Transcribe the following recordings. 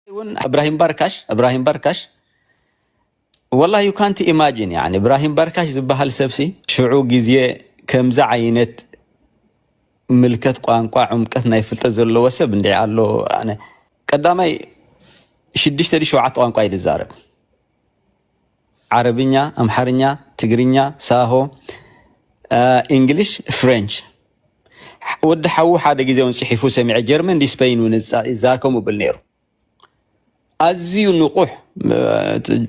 ውን እብራሂም ባርካሽ እብራሂም ባርካሽ ወላ ዩ ካንቲ ኢማጂን ያኒ እብራሂም ባርካሽ ዝበሃል ሰብሲ ሽዑ ግዜ ከምዚ ዓይነት ምልከት ቋንቋ ዕምቀት ናይ ፍልጠት ዘለዎ ሰብ እንዲዕ ኣሎ ኣነ ቀዳማይ ሽዱሽተ ሸውዓተ ቋንቋ እዩ ዝዛረብ ዓረብኛ፣ ኣምሓርኛ፣ ትግርኛ፣ ሳሆ፣ ኢንግሊሽ፣ ፍሬንች። ወዲ ሓዉ ሓደ ግዜ ውን ጽሒፉ ሰሚዐ ጀርመን ዲ ስፐይን ውን ይዛከሙ ብል ነይሩ። ኣዝዩ ንቑሕ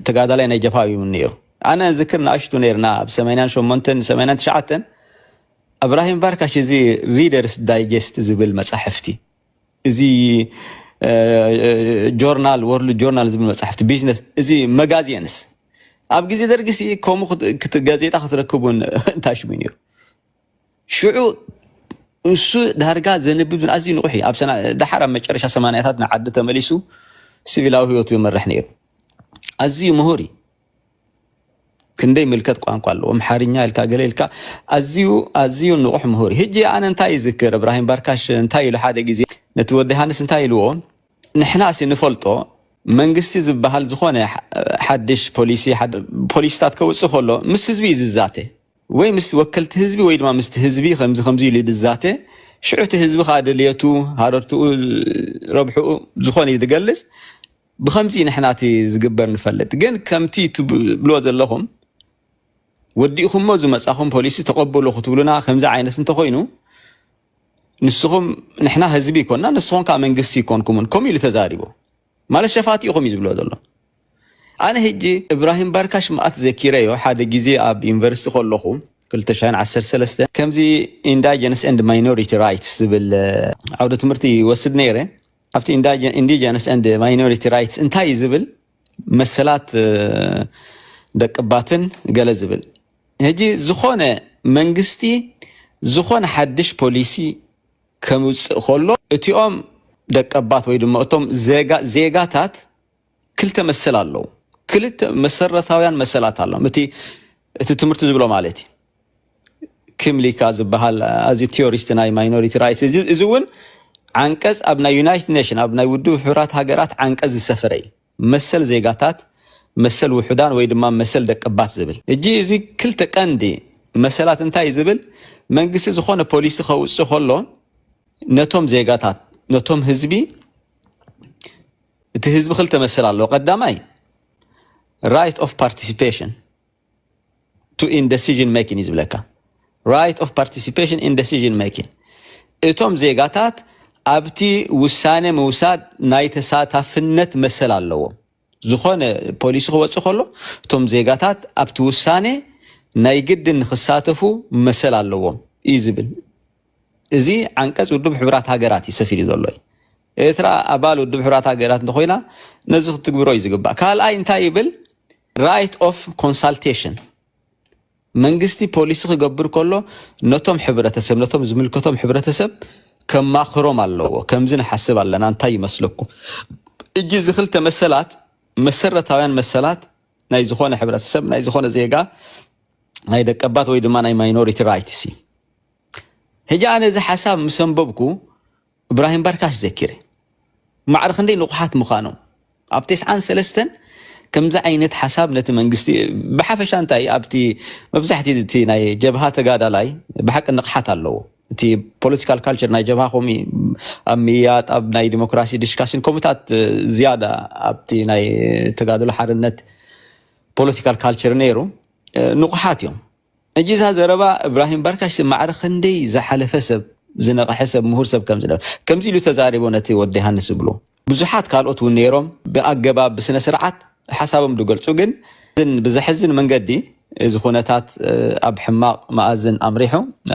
ተጋዳላይ ናይ ጀብሃ እዩ ነይሩ። ኣነ ዝክር ንኣሽቱ ነርና ኣብ ሰማንያን ሸሞንተን ሰማንያን ትሽዓተን እብራሂም ባርካሽ እዚ ሪደርስ ዳይጀስት ዝብል መጻሕፍቲ እዚ ጆርናል ወርልድ ጆርናል ዝብል መፅሕፍቲ ቢዝነስ እዚ መጋዜንስ ኣብ ግዜ ደርጊ ሲ ከምኡ ጋዜጣ ክትረክብ እውን ታሽሙ ነይሩ ሽዑ እሱ ዳርጋ ዘንብብ ኣዝዩ ንቑሕ እዩ ኣብ ደሓር ኣብ መጨረሻ ሰማንያታት ንዓዲ ተመሊሱ ሲቪላዊ ህይወቱ ይመርሕ ነይሩ ኣዝዩ ምሁር እዩ ክንደይ ምልከት ቋንቋ ኣለዎ ኣምሓርኛ ኢልካ ገለ ኢልካ ኣዝዩ ኣዝዩ ንቑሕ ምሁር ህጂ ኣነ እንታይ ይዝክር እብራሂም ባርካሽ እንታይ ኢሉ ሓደ ግዜ ነቲ ወዲ ሃንስ እንታይ ኢልዎ ንሕና ሲ ንፈልጦ መንግስቲ ዝበሃል ዝኾነ ሓድሽ ፖሊሲ ፖሊሲታት ከውፅእ ከሎ ምስ ህዝቢ እዩ ዝዛተ ወይ ምስ ወከልቲ ህዝቢ ወይ ድማ ምስቲ ህዝቢ ከምዚ ከምዚ ኢሉ ዝዛተ ሽዑ እቲ ህዝቢ ከዓ ድልየቱ ሃረርትኡ ረብሕኡ ዝኾነ እዩ ዝገልፅ ብከምዚ ንሕና እቲ ዝግበር ንፈልጥ ግን ከምቲ ትብልዎ ዘለኹም ወዲእኹሞ ዝመጻኹም ፖሊሲ ተቐበሉ ክትብሉና ከምዚ ዓይነት እንተኾይኑ ንስኹም ንሕና ህዝቢ ይኮንና ንስኹም ከዓ መንግስቲ ይኮንኩምን ከምኡ ኢሉ ተዛሪቡ ማለት ሸፋቲ ኢኹም እዩ ዝብሎ ዘሎ ኣነ ህጂ እብራሂም ባርካሽ መኣት ዘኪረዮ ሓደ ግዜ ኣብ ዩኒቨርሲቲ ከለኹ 213 ከምዚ ኢንዳጀነስ ኤንድ ማይኖሪቲ ራይትስ ዝብል ዓውደ ትምህርቲ ይወስድ ነይረ ኣብቲ ኢንዲጀነስ ኤንድ ማይኖሪቲ ራይትስ እንታይ እዩ ዝብል መሰላት ደቅባትን ገለ ዝብል ሕጂ ዝኾነ መንግስቲ ዝኾነ ሓድሽ ፖሊሲ ከምውፅእ ከሎ እቲኦም ደቀባት ወይ ድማ እቶም ዜጋታት ክልተ መሰል ኣለዉ ክልተ መሰረታውያን መሰላት ኣሎም እቲ እቲ ትምህርቲ ዝብሎ ማለት እዩ ክምሊካ ዝበሃል ኣዚ ቴዎሪስት ናይ ማይኖሪቲ ራይትስ እዚ እውን ዓንቀፅ ኣብ ናይ ዩናይትድ ኔሽን ኣብ ናይ ውድብ ሕብራት ሃገራት ዓንቀፅ ዝሰፈረ እዩ መሰል ዜጋታት መሰል ውሑዳን ወይ ድማ መሰል ደቀባት ዝብል እጂ እዚ ክልተ ቀንዲ መሰላት እንታይ ዝብል መንግስቲ ዝኾነ ፖሊሲ ከውፅእ ከሎ ነቶም ዜጋታት ነቶም ህዝቢ እቲ ህዝቢ ክልተ መሰል ኣለዎ ቀዳማይ ራይት ኦፍ ፓርቲሲፔሽን ቱ ኢን ደሲዥን ሜኪን እዩ ዝብለካ ራይት ኦፍ ፓርቲሲፔሽን ኢን ደሲዥን ሜኪን እቶም ዜጋታት ኣብቲ ውሳነ ምውሳድ ናይ ተሳታፍነት መሰል ኣለዎም ዝኾነ ፖሊሲ ክወፅእ ከሎ እቶም ዜጋታት ኣብቲ ውሳነ ናይ ግዲ ንክሳተፉ መሰል ኣለዎም እዩ ዝብል እዚ ዓንቀፅ ውድብ ሕብራት ሃገራት እዩ ሰፊሉ ዘሎ እዩ ኤርትራ ኣባል ውድብ ሕቡራት ሃገራት እንተኾይና ነዚ ክትግብሮ እዩ ዝግባእ። ካልኣይ እንታይ ይብል ራይት ኦፍ ኮንሳልቴሽን መንግስቲ ፖሊሲ ክገብር ከሎ ነቶም ሕብረተሰብ ነቶም ዝምልከቶም ሕብረተሰብ ከማኽሮም ኣለዎ። ከምዚ ንሓስብ ኣለና እንታይ ይመስለኩም? እጂ እዚ ክልተ መሰላት መሰረታውያን መሰላት ናይ ዝኾነ ሕብረተሰብ ናይ ዝኾነ ዜጋ ናይ ደቀባት ወይ ድማ ናይ ማይኖሪቲ ራይትስ እዩ ሕጂ ኣነ እዚ ሓሳብ ምስ ኣንበብኩ እብራሂም ባርካሽ ዘኪረ ማዕረ ክንደይ ንቑሓት ምዃኖም ኣብ ቴስዓን ሰለስተን ከምዚ ዓይነት ሓሳብ ነቲ መንግስቲ ብሓፈሻ እንታይ ኣብቲ መብዛሕትኡ እቲ ናይ ጀብሃ ተጋዳላይ ብሓቂ ንቕሓት ኣለዎ እቲ ፖለቲካል ካልቸር ናይ ጀብሃ ከምኡ ኣብ ምያጥ ኣብ ናይ ዲሞክራሲ ዲስካሽን ከምኡታት ዝያዳ ኣብቲ ናይ ተጋድሎ ሓርነት ፖለቲካል ካልቸር ነይሩ ንቑሓት እዮም ሕጂ እዛ ዘረባ እብራሂም ባርካሽ ማዕረ ክንደይ ዝሓለፈ ሰብ ዝነቕሐ ሰብ ምሁር ሰብ ከም ዝነበረ ከምዚ ኢሉ ተዛሪቡ ነቲ ወዲ ዮሃንስ ዝብሎ ብዙሓት ካልኦት እውን ነይሮም ብኣገባብ ብስነ ስርዓት ሓሳቦም ዝገልጹ ግን ብዘሕዝን መንገዲ እዚ ኩነታት ኣብ ሕማቕ መኣዝን ኣምሪሑ